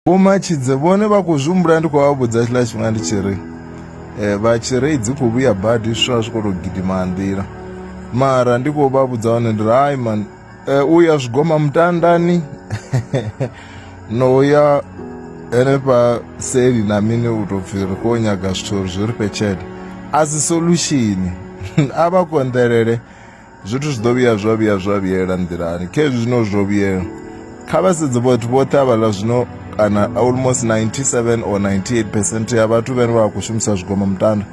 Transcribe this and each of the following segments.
Vho Matshidze vhone vha khou zwi humbula ndi khou vha vhudza tshiḽa tshifhinga ndi tshi ri eh, vha tshi ri dzi khou vhuya badi zwiswa zwi khou tou gidima nḓila mara ndi khou vha vhudza hone ndi ri hai man eh, u ya zwigoma mutandani no ya henefha seli na mini u tou pfhi ri khou nyaga zwithu uri zwi ri fhe tshelede a si solution a vha konḓelele Zwithu zwi ḓo vhuya zwa vhuya zwa vhuyela nḓilani kha hezwi zwino zwo vhuyela kha vha sedze vhathu vhoṱhe havhaḽa zwino kana almost 97 or 98 percent ya vhathu vhane vha khou shumisa zwigomo mutanda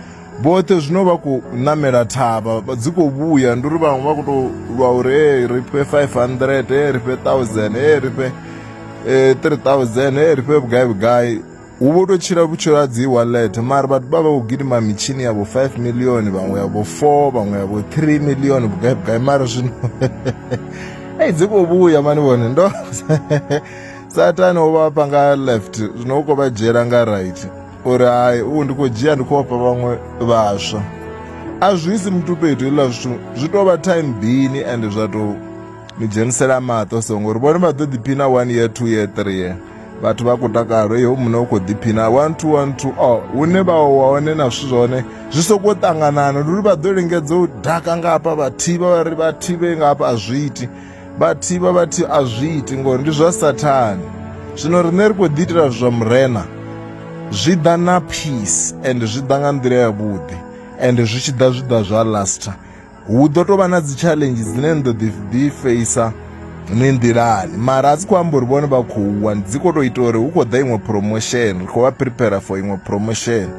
vhoṱhe zwino vha khou namela thavha vha dzi khou vhuya ndi uri vhaṅwe vha khou tou lwa uri e ri fhe 500 e ri fhe 1000 e ri fhe eh, 3000 e ri fhe vhugai vhugai hu vho tou tshila vhutshilo ha dzi wallet mara vhathu vha vha vho gidima mitshini yavho 5 million vhaṅwe yavho 4 vhaṅwe yavho 3 million vhugai vhugai mara zwino ei dzi khou vhuya mani vhone ndo satani o vha fha nga left zwino u khou vha dzhiela nga right uri hai u ndi khou dzhia ndi khou fha vhaṅwe vhaswa a zwi si muthu fhethu hezwiḽa zwithu zwi tou vha time bini ende zwa tou ni dzhenisela maṱo so ngori vhone vha ḓo ḓiphina one year two year three year vhathu vha khou takalo iwe muṋe u khou ḓiphina one two one two o hune vha wa hone na zwithu zwone zwi sokou ṱanganana ndi uri vha ḓo lingedza u daka nga hafha vha thivha vha ri vha thivhe nga hafha a zwi iti vha thivha vha thi a zwi iti ngori ndi zwa sathane zwino riṋe ri khou ḓi itela zwa murena zwi ḓa na peace and zwi ḓa nga nḓila yavhuḓi and zwi tshi ḓa zwi ḓa zwa laster Hu ḓo tou vha na dzi challenge dzine ni ḓo ḓi ḓi feisa ni nḓilani mara a dzi khou amba uri vhone vha khou wa dzi khou tou ita uri hu khou ḓa iṅwe promotion ri khou vha prepare for iṅwe promotion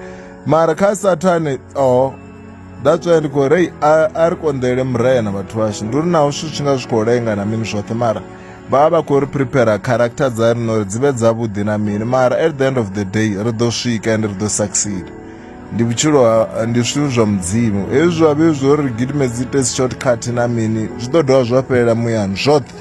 mara kha sathane oh that's why ndi khou rei a ri konḓele murena vhathu vhashu ndi uri naho zwithu tshi nga zwi khou lenga na mini zwoṱhe mara vha vha vha khou ri prepare character dza rino uri dzi vhe dzavhuḓi na mini mara at the end of the day ri ḓo swika ende ri ḓo succeed ndi vhutshilo ha ndi zwithu zwa mudzimu hezwi zwa vhe zwo ri gidime dzi test shortcut na mini zwi ḓo dovha zwa fhelela muyani zwoṱhe